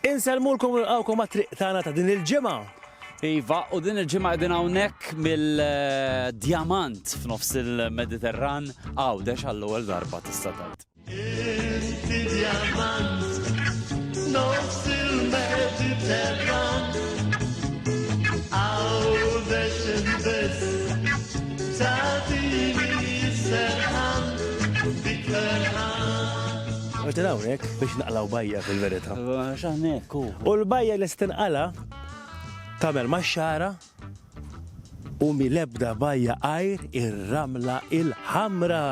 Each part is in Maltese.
Insellmulkom u nilqgħukom għat-triq tagħna ta' din il-ġimgħa. Iva, u din il-ġimgħa qegħdin hawnhekk mill-djamant f'nofs il-Mediterran, Għawdex għall-ewwel darba tista' tgħid. Inti djamant f'nofs il-Mediterran, Għawdex biss tagħtini s-serħan, dik l-erħan. Għatina hawnhekk biex naqlaw bajja fil-verità. X'hawnhekk hu. U l-bajja li stinqala tagħmel max-xara u mill-ebda bajja għajr ir-ramla il-ħamra.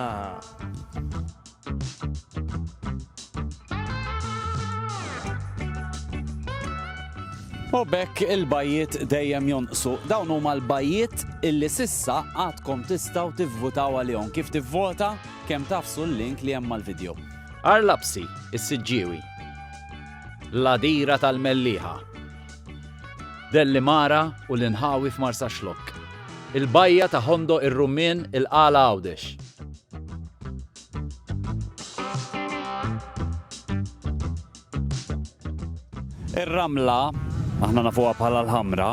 U bekk il-bajiet dejjem jonqsu. Dawn huma l-bajiet illi sissa għadkom tistgħu tivvutaw għalihom. Kif tivvota? Kemm tafsu l-link li hemm mal-video. Għar Lapsi, is-Siġġiewi. L-Għadira tal-Mellieħa. Dellimara u l-inħawi f'Marsaxlokk. Il-Bajja ta' Ħondoq ir-Rummien, il-Qala Għawdex. Ir-ramla, aħna nafuha bħala l-ħamra,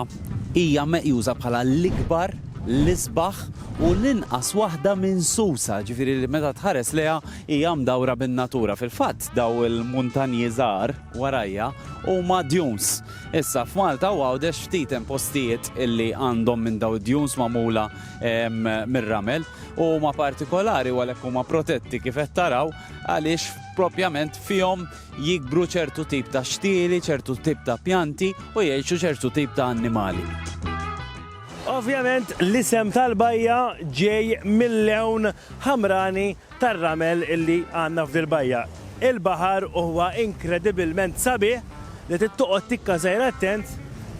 hija meqjusa bħala l-ikbar, l-isbaħ u l-inqas waħda minsusa, ġifieri li meta tħares lejha hija mdawra bin-natura. Fil-fatt daw il-muntanji żgħar warajja huma dunes. Issa f'Malta u Għawdex ftit hemm postijiet illi għandhom minn daw id-dunes magħmula em, mir-ramel u huma partikolari u għalhekk huma protetti kif qed taraw għaliex propjament fihom jikbru ċertu tip ta' xtieli, ċertu tip ta' pjanti u jgħixu ċertu tip ta' annimali. Ovvjament l-isem tal-bajja ġej mil-lewn ħamrani tar-ramel illi għandna f'dil bajja. Il-baħar huwa inkredibilment sabiħ li trid toqgħod tikka sejr attent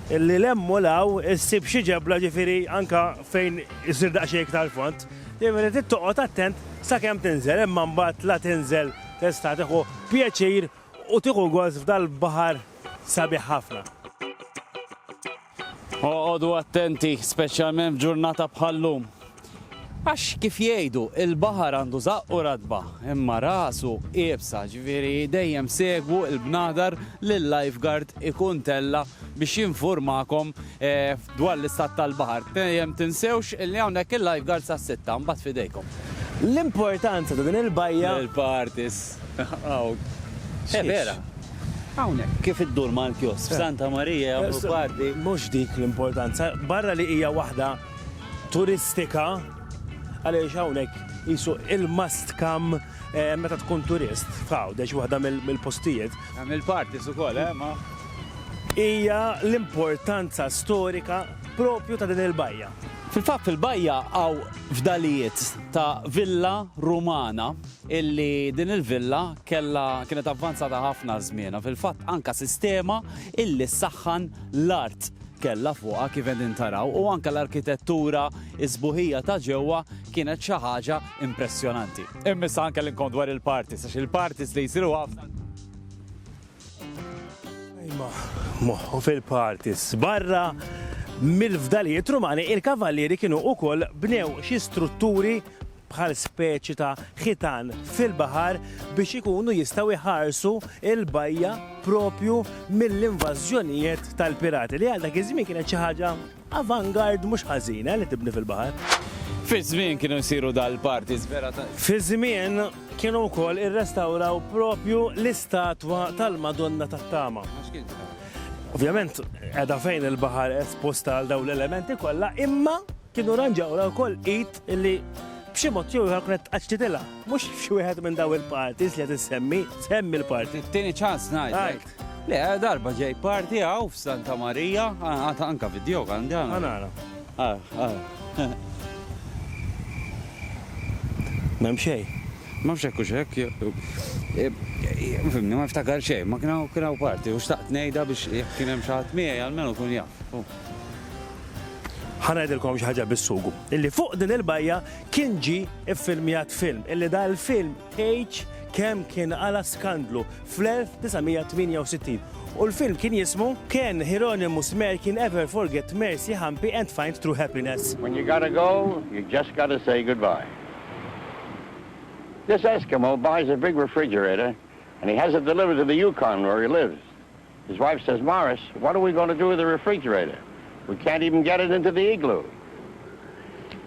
illi 'l hemm u 'l hawn issib xi ġebla ġifieri anke fejn isir daqsxejn iktar fond. Dejjem irid toqgħod attent sakemm tinżel, imma mbagħad la tinżel tista' tieħu pjaċir u tieħu gost f'dal-baħar sabiħ ħafna. Oqogħdu attenti, speċjalment f'ġurnata bħal-lum. Għax kif jgħidu, il-baħar għandu żaqqu ratba, imma rasu iebsa, ġifieri dejjem segwu l-bnadar li l-lifeguard ikun tella' biex jinfurmakom Dwar l-istat tal-baħar, dejjem tinsewx li hawnhekk il-lifeguards għas-sitta, mbagħad f'idejkom. L-importanza ta' din il-bajja. Il-parties. Hawn. Eh, vera. Hawnhekk. Kif iddur mal-kiosk. F'Santa Marija jagħmlu party. Mhux dik l-importanza. Barra li hija waħda turistika, għaliex hawnhekk qisu il-must come Meta tkun turist f'Għawdex, waħda mill-postijiet. Tagħmel parties ukoll, eh, ma? Hija l-importanza storika proprju ta' din il-bajja. Fil-fatt fil-bajja hawn fdalijiet ta' villa Rumana illi din il-villa kellha kienet avvanzata ħafna żmienha. Fil-fatt anke sistema illi ssaħħan l-art kellha fuqha kif qegħdin taraw u anke l-arkitettura s-sbuħija ta' ġewwa kienet xi ħaġa impressjonanti. Immis anke l-inkont dwar il-parties, għax il-parties li jisiru għafna. Ejma, moħħu fil-parties, barra mill-fdalijiet rumani, il-kavallieri kienu u koll bnew xi strutturi bħal speċi ta' ħitan fil-bahar biex ikunu jistaw iħarsu il-bajja propju mill-invażjonijiet tal-pirati li għal dak iż-żmien kienet xi ħaġa Avant-garde mhux ħażin, eh, li tibni fil-baħar. Fiż-żmien kienu jsiru dal-parties vera ta'. Fiż-żmien kienu wkoll irrestawraw propju l-istatwa tal-Madonna tat-Tama. Ovvjament qiegħda fejn il-baħar esposta għal dawn l-elementi kollha, imma kienu ranġawra wkoll id li b'xi mod jew ieħor kienet tqaċċitilha. Mhux xi wieħed minn daw il-parties li qed issemmi, semmi l-party. Tieni ċans ngħid. Le, darba ġej parti għaw f'Santa Marija, għata anka video għandi għana. Għana. Ah, ah. Mem xej. Ma fxek u xek. Fimni, ma ftakar xej, ma kienaw kienaw parti, u xtaqt nejda biex jek kienem xaħat miegħi għalmenu kun jaf. Ħanajdilkom xaħġa bis-sugu. Illi fuq din il-bajja kien ġi iffilmjat film, illi da il-film tgħidx kemm kien għala skandlu fl-1968 u l-film kien jismu Can Hieronymus Merkin Ever Forget Mercy Hampi and Find True Happiness? When you gotta go, you just gotta say goodbye. This Eskimo buys a big refrigerator and he has it delivered to the Yukon where he lives. His wife says, Morris, what are we going to do with the refrigerator? We can't even get it into the igloo.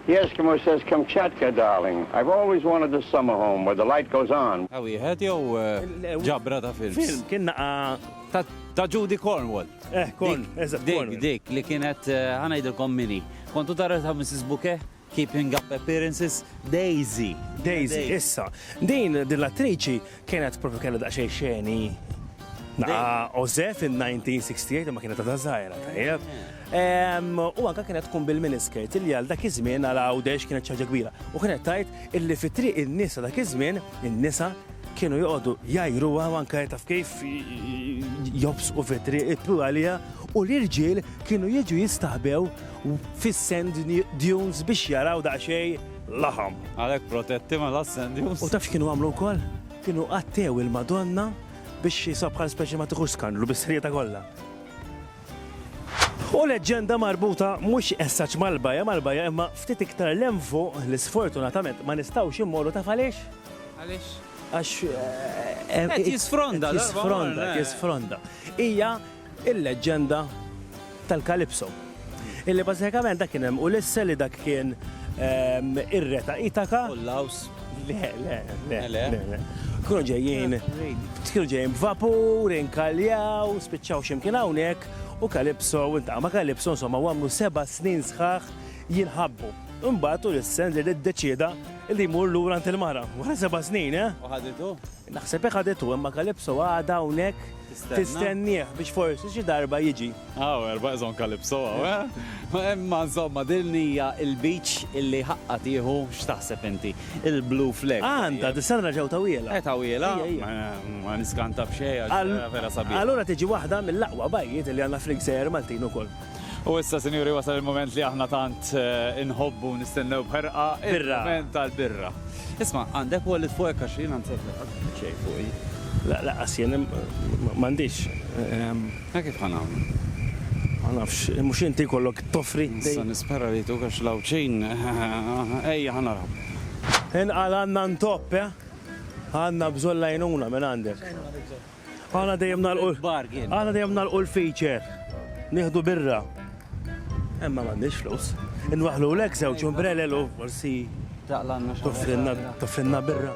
The Eskimo says, Kamchatka, darling, I've always wanted this summer home where the light goes on. Ta' wieħed jew ġabra ta' films? Film, kien naqa' Ta' Judy Cornwall. Eh, Corn, eżatt, Cornwall. Dik, dik li kienet, ħa ngħidilkom min hi. Kontu tara ta' Mrs. Bouquet? Keeping up appearances, Daisy! Daisy, issa, din din l-attriċi kienet propju kellha daqsxejn xeni naqa' oże fin-1968 imma kienet għadha żgħira tajjeb. Em, U anke kienet tkun bil-miniskirt li għal dak iż-żmien għal Għawdex kienet xi ħaġa kbira. U kienet tgħid illi fit-triq in-nies ta' dak iż-żmien, in-nisa kienu joqogħdu jgħajruha u anke taf kif jobsqu fit-triq, jippru għaliha u l-irġiel kienu jiġu jistaħbew fis-sand dunes biex jaraw daqsxejn laħam. Għalhekk protetti mela s-sand dunes. U taf x'kienu għamlu wkoll? Kienu għattew il-Madonna biex jisha bħal speċi ma tiħux skandlu bis-sħieta kollha. U leġġenda marbuta mhux essaċ mal-bajja mal-bajja imma ftit iktar lem fuq li sfortunatament ma nistgħux immorru taf għaliex? Għaliex? Għax. Eh, eh, qed jisfronda, jisfronda, jisfronda. Hija il-leġġenda tal-Kalipso, illi bażikament dak kien hemm Ulisse li dak kien ir-re ta' Ithaka. U l-Laws? Le, le, le, le, le. Kienu ġejjin, kienu ġejjin b'vapur, inkaljaw, spiċċaw xi mkien hawnhekk u Kalipso iltaqa' ma' Kalipso insomma u għamlu seba' snin sħaħ jinħabbu. Imbagħad Ulisse nżel iddeċieda li jmur lura għand il-mara wara seba' snin, eh? U ħaditu? Naħseb hekk għadet u imma Calypso għadha hawnhekk tistennieh biex forsi xi darba jiġi. Hawn erba' iżhom Calypso hawn, eh? Imma insomma din hija l-beach illi ħaqqa tieħu x'taħseb inti? Il-Blue Flag. Għandha, dis-sena ġew tawhielha. Eh tawhielha? Ma niskanta b'xejn għax vera sabiħa. Allura tiġi waħda mill-aqwa bajjiet li għandna fil-gżejjer Maltin ukoll. U issa, sinjuri, wasal il-mument li aħna tant eh, inħobbu nistennew bħerqa il-mument tal-birra. Isma, għandek wallet fuqek għax jien għandek xejn fuqi. La, la, għasjen, mandiċ. Ma kif ħanam? Ma nafx, mux inti kollok toffri. Nista nispera li tu għax lawċin. Ejja, ħanara. Inqal għanna ntopp, eh? Għanna bżon lajnuna minn għandek. Aħna dejjem nagħlqu aħna dejjem nagħlqu l-feature. Nieħdu birra. Imma m'għandix flus. Inwaħħlulek żewġ umbrelel u forsi toffrinna birra.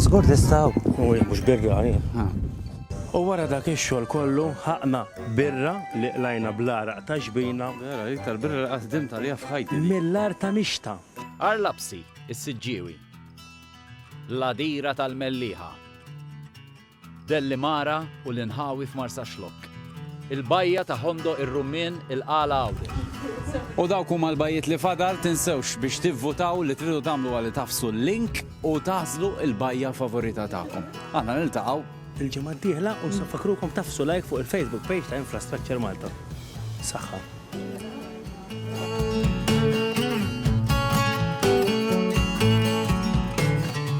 Żgur tistgħu. U jekk mhux birri għalih. U wara dak ix-xogħol kollu ħaqna birra li qlajna bl-għaraq ta' ġbina. Vera, l-iktar birra li qatt ħdimt għaliha f'ħajti dik. Mill-art ta' Mixta. Għarlabsi, is-Siġġiewi. L-Għadira tal-Mellieħa. Dellimara u l-inħawi f'Marsaxlokk. Il-bajja ta' Hondo ir-Rummien il-Qala Għawdex. U dawk huma l-bajjiet li fadal, tinsewx biex tivvutaw li tridu tagħmlu huwa li tagħfsu l-link u tagħżlu l-bajja favorita tagħkom. Aħna niltaqgħu. Il-ġimgħa d-dieħla u se nfakkrukom tagħfsu like fuq il-Facebook page ta' Infrastructure Malta. Saħħa.